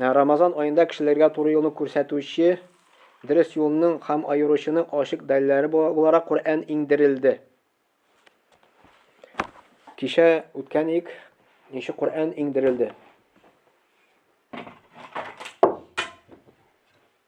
Менә Рамазан аенда кешеләргә туры юлны күрсәтүче, дөрес юлның һәм аеручының ачык дәлилләре буларак Коръән иңдерелде. Кичә үткән ик, ничек Коръән иңдерелде.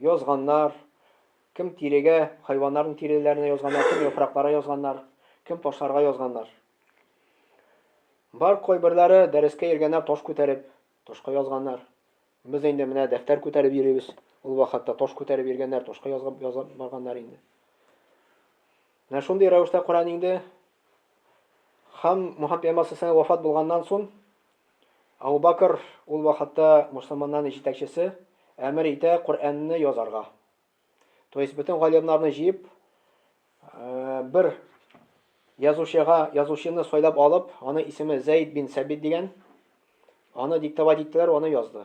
Язганнар, кем тирегә, хайваннарның тиреләренә язганнар, кем яфраклара язганнар, кем ташларга язганнар. Бар кайберләре дәрескә йөргәннәр таш күтәреп, ташка язганнар. Без инде менә дәфтәр күтәреп йөрибез, ул вакытта таш күтәреп йөргәннәр, ташка язып язып барганнар инде. Менә шундый рәвештә Коръән инде Хам Мухаммед пәйгамбәр сәлләһу алейһи ва сәлләм вафат булганнан соң, Әбу Бәкер ул вакытта мөселманнарның җитәкчесе, әмер итә Коръәнне язарга. То есть бөтен галимнарны җыеп, бер язучыга, язучыны сайлап алып, аны исеме Зәйд бин Сәбит дигән, аны диктовать иттеләр, аны язды.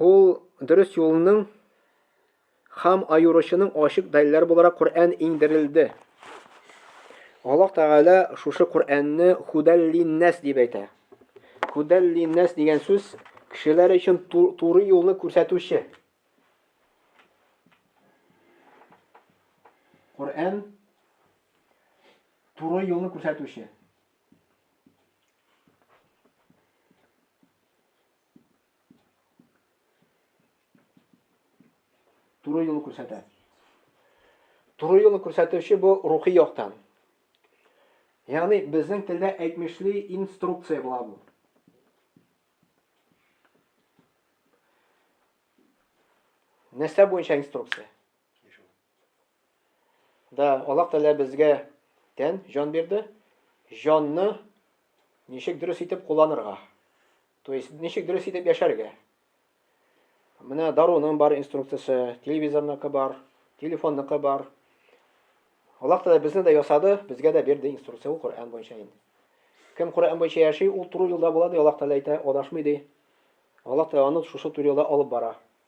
Ул дөрес юлның хам аюрычының ашык дәлләр буларак Коръән иңдерелде. Аллаһ Тәгалә шушы Коръәнне худәллиннәс дип әйтә. Худәллиннәс дигән сүз кешеләр өчен туры юлны күрсәтүче. Коръән туры юлны күрсәтүче. Туры юлы күрсәтә. Туры юлы күрсәтүче бу рухи яктан. Ягъни безнең телдә әйтмешли инструкция була бу. Нәрсә буенча инструкция? Да, Аллаһ Тәгалә безгә тән, җан бирде. Җанны ничек дөрес итеп кулланырга? То есть ничек дөрес итеп яшәргә? Менә даруның бар инструкциясе, телевизорныкы бар, телефонныкы бар. Аллаһ Тәгалә безне дә ясады, безгә дә бирде инструкция ул Коръән буенча инде. Кем Коръән буенча яши, ул туры юлда була ди, Аллаһ Тәгалә әйтә, адашмый ди. Аллаһ Тәгалә аны шушы туры юлда алып бара.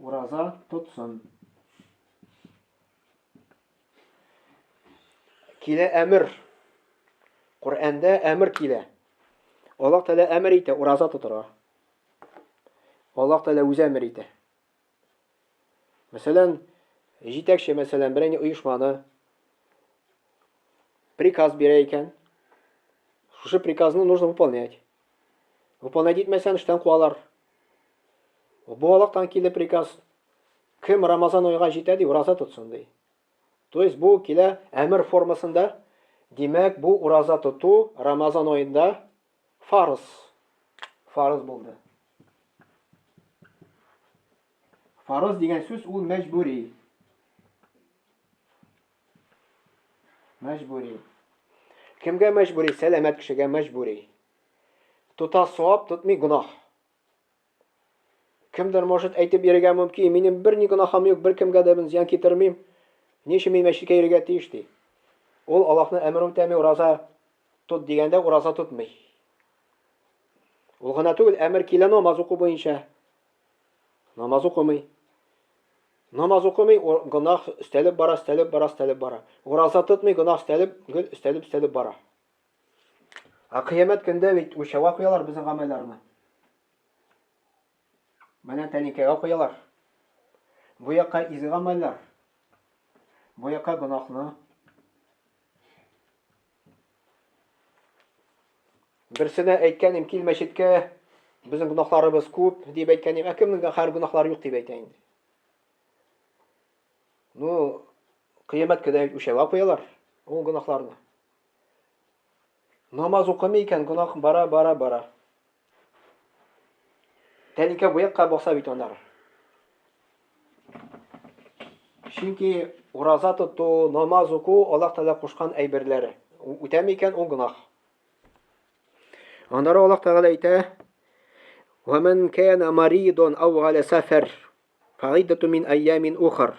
Ураза тотсын. Килә әмер. Коръәндә әмер килә. Аллаһ Тәгалә әмер итә ураза тотырга. Аллаһ Тәгалә үзе әмер итә. Мәсәлән, җитәкче мәсәлән берәйне оешманы приказ бирә икән, шушы приказны нужно выполнять. Выполнять итмәсәм, эштән куалар. Буалыктан килде приказ. Кем Рамазан айга җитә ди, ураза тотсын ди. То есть бу килә әмер формасында. Димәк, бу ураза тоту Рамазан аенда фарыз. Фарыз булды. Фарыз дигән сүз ул мәҗбүри. Мәҗбүри. Кемгә мәҗбүри? Сәламәт кешегә мәҗбүри. Тота савап, тотмый гөнаһ. Кемдер может әйтеп йөрергә мөмкин, минем бер ни гөнаһым юк, бер кемгә дә мин зыян китермим. Ни өчен мин мәчеткә йөрергә тиеш ди. Ул Аллаһның әмер үтәми, ураза тот дигәндә ураза тотмый. Ул гына түгел, әмер килә намаз уку буенча. Намаз укымый. Намаз укымый, гөнаһ өстәлеп бара, өстәлеп бара, өстәлеп бара. Ураза тотмый, гөнаһ өстәлеп, гел өстәлеп, өстәлеп бара. Ә кыямәт көндә бит үлчәүгә куялар безнең гамәлләрне. Менә тәлинкәгә куялар. Бу якка изге гамәлләр. Бу якка гөнаһны. Берсенә әйткәнем, кил мәчеткә, безнең гөнаһларыбыз күп, дип әйткәнем, ә кемнең дә хәр гөнаһлары юк дип әйтә инде. Ну, кыямәт көне үлчәүгә куялар ул гөнаһларны. Намаз укымый икән, гөнаһ бара, бара, бара. Тәлинкә буякка баса бит анар. Чөнки ураза тоту, намаз уку Аллаһ Тәгалә кушкан әйберләр. Үтәми икән ул гынах. Аннары Аллаһ Тәгалә әйтә: "Ва ман кана маридон ау гала сафар, фаидату мин айямин ухар."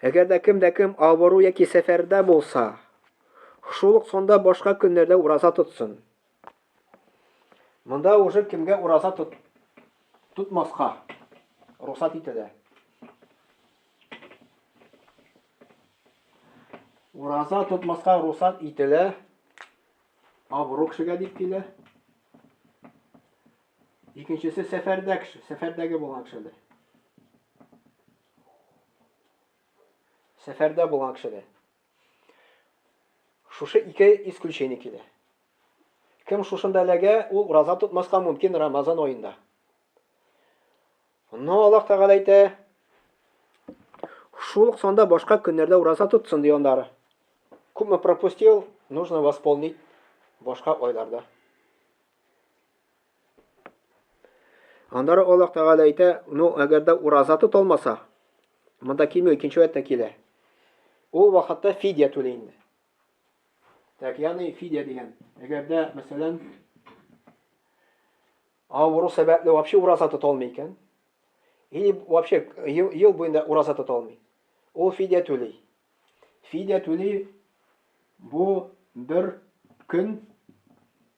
Әгәр дә кем дә кем авыру яки сәфәрдә булса, шул ук сонда башка көннәрдә ураза тотсын. Монда уже кемгә ураза тот, тотмаска рөхсәт ителә. Ураза тотмаска рөхсәт ителә. Абрук кешегә дип килә. Икенчесе сәфәрдә кеше, сәфәрдәге булган кешедә. Сәфәрдә булган кешедә. Шушы ике исключение килә. Кем шушында эләгә, ул ураза тотмаска мөмкин Рамазан аенда. Но Аллаһ Тәгалә әйтә, шул ук санда башка көннәрдә ураза тотсын ди андары. Күпме пропустил, нужно восполнить башка айларда. Аннары Аллаһ Тәгалә әйтә, ну, әгәр дә ураза тот алмаса, монда килми, икенче вәттә килә. Ул вакытта фидия түле инде. Так, ягъни фидия дигән. Әгәр дә, мәсәлән, авыру сәбәпле вообще ураза тота алмый икән, или вообще ел, ел буенда ураза тота алмый. Ул фидия түли. Фидия түли бу бер көн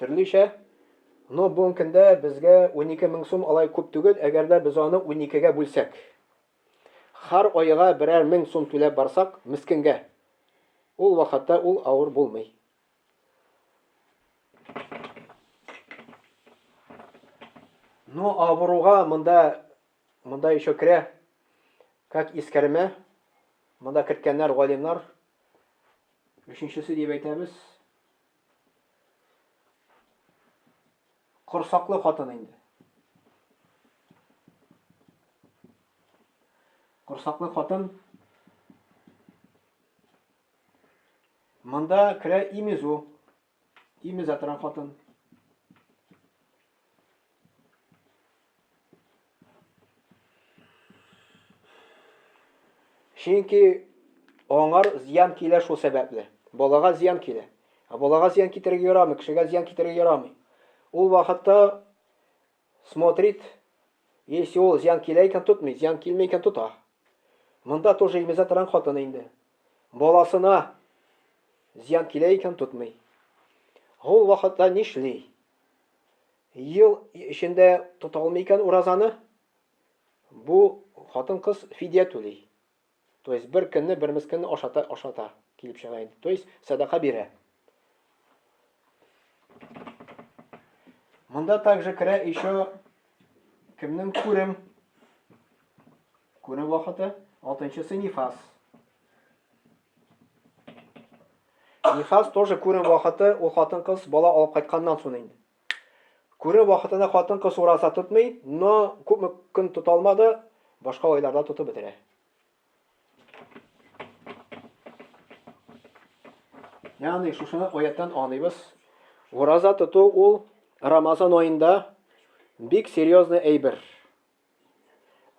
Төрлечә. Ну, бүгенге көндә безгә унике мең сум алай күп түгел, әгәр дә без аны уникегә бүлсәк. Хәр аега берәр мең сум түләп барсак, мескенгә, ул вакытта ул авыр булмый. Ну, авыруга монда, монда еще керә, как искәрмә, монда керткәннәр, галимнар. Өченчесе дип әйтәбез. Корсаклы хатын инде. Корсаклы хатын Монда керә имезу. Имезә торган хатын. Чөнки аңар зыян килә шул сәбәпле. Балага зыян килә. Ә балага зыян китерергә ярамый, кешегә зыян китерергә ярамый. Ул вакытта смотрит, если ул зыян килә икән тотмый, зыян килмәй икән тота. Монда тоже имезә торган хатын инде. Баласына зыян килә икән тотмый. Ул вакытта нишли? ел эчендә тота алмый икән уразаны, бу хатын-кыз фидия түли. То есть бер көнне, бер мескенне ашата, ашата килеп чыга инде. То есть садака бирә. Монда также керә еще кемнең күрем. Күрем вакыты 6 нчысы нифас. Нифас тоже күрем вакыты, ул хатын-кыз бала алып кайтканнан сон инде. Күрем вакытында хатын-кыз ураза тотмый, но күпме көн тота алмады, башка айларда тотып бетерә. Ягъни шушыны аяттан аныйбыз. Ураза тоту ул Рамазан аенда бик серьезный әйбер.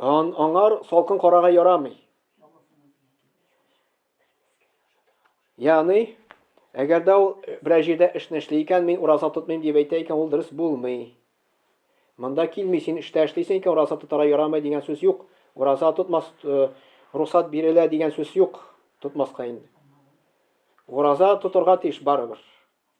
Ан, аңар салкын карага ярамый. Яны, әгәр дә ул берәр җирдә эшне эшли икән, мин ураза тотмыйм дип әйтә икән, ул дөрес булмый. Монда килми, син эштә эшлисең икән, ураза тотара ярамый дигән сүз юк. Ураза тотмас, э, рухсат бирелә дигән сүз юк. Тотмаска инде. Ураза тотырга тиеш барыбер.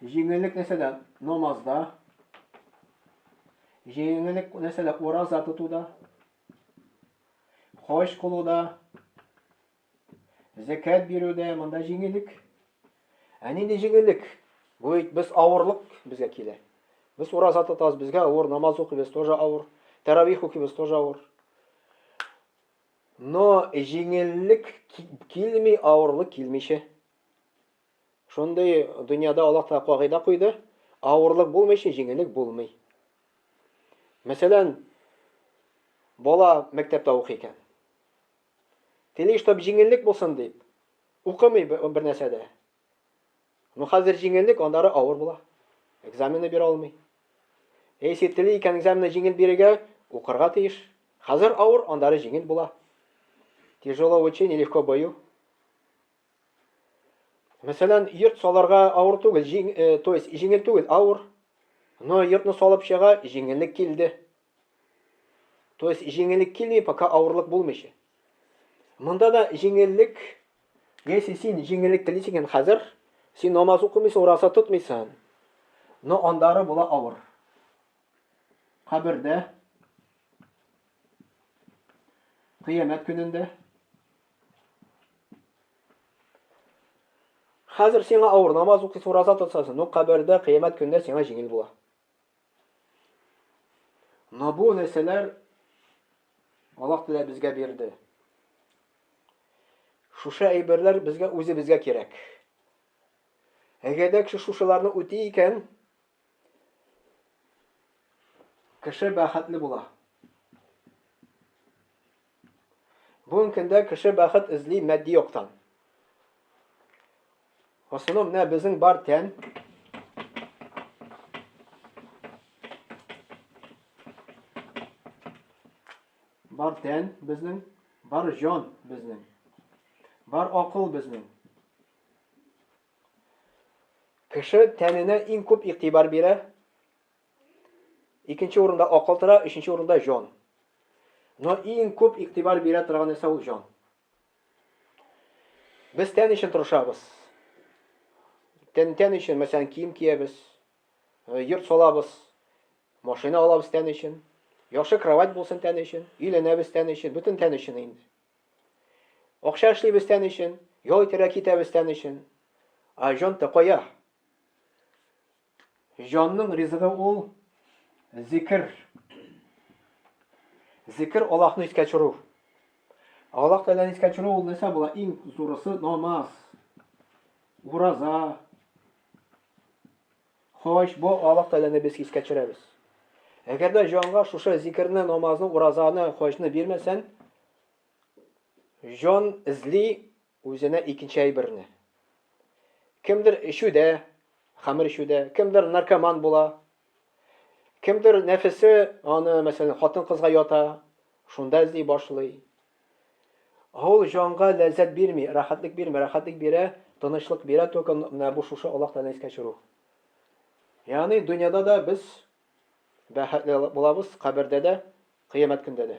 Җиңеллек нәрсәдә? Намазда. Җиңеллек нәрсәдә? Ураза тотуда. Хаҗ кылуда. Зәкәт бирүдә монда җиңеллек. Ә нинди җиңеллек? Бу бит без авырлык безгә килә. Без ураза тотабыз, безгә авыр, намаз укыйбыз, тоже авыр. Таравих укыйбыз, тоже авыр. Но җиңеллек килми, авырлык килмичә. Шундый дөньяда Аллаһ Тәгалә кагыйдә куйды, авырлык булмый өчен җиңеллек булмый. Мәсәлән, бала мәктәптә укый икән. Тели, чтобы җиңеллек булсын дип, укымый бер нәрсә дә. Ну, хәзер җиңеллек, аннары авыр була. Экзамены бирә алмый. Если тели икән экзамены җиңел бирергә, укырга тиеш. Хәзер авыр, аннары җиңел була. Тяжело учи, нелегко бою. Мәсәлән, йорт саларга авыр түгел, җиң, э, то есть җиңел түгел, авыр. Но йортны салып чыга, җиңеллек килде. То есть җиңеллек килми, пока авырлык булмыйча. Монда да җиңеллек, если син җиңеллек телисең икән хәзер, син намаз укымыйсың, ураза тотмыйсың. Но андары була авыр. Кабердә, кыямәт көнендә Хәзер сиңа авыр намаз укыйсы, ураза тотасың, но кабердә, кыямәт көндә сиңа җиңел була. Но бу нәрсәләр Аллаһ Тәгалә безгә бирде. Шушы әйберләр безгә үзебезгә кирәк. Әгәр дә кеше шушыларны үти икән, кеше бәхетле була. Бүгенге көндә кеше бәхет эзли матди яктан. В основном менә безнең бар тән бар тән безнең, бар җан безнең, бар акыл безнең. Кеше тәненә иң күп игътибар бирә, Икенче урында акыл тора, өченче урында җан. Но иң күп игътибар бирә торган нәрсә ул җан. Без тән өчен тырышабыз. Тән, тән өчен, мәсәлән, кием киябез, э, йорт салабыз, машина алабыз тән өчен, яхшы кровать булсын тән өчен, өйләнәбез тән өчен, бөтен тән өчен инде. Акча эшлибез тән өчен, ял итәргә китәбез тән өчен. Ә җан-то кая? Җанның ризыгы ул, зикер. Зикер, Аллаһны искә төшерү. Аллаһ Тәгаләне искә төшерү ул нәрсә була? Иң зурысы намаз, ураза, хаҗ. Бу Аллаһ Тәгаләне без искә төшерәбез. Әгәр дә җанга шушы зикерне, намазны, уразаны, хаҗны бирмәсәң, җан эзли Үзенә икенче әйберне. Кемдер эчүдә, хәмер эчүдә, кемдер наркоман була, кемдер нәфесе аны, мәсәлән, хатын-кызга ята, шунда эзли башлый. Ул җанга ләззәт бирми, рәхәтлек бирми, рәхәтлек бирә, тынычлык бирә только менә бу шушы Аллаһ Тәгаләне искә төшерү. Ягъни дөньяда да без бәхетле булабыз, кабердә дә, кыямәт көндә дә.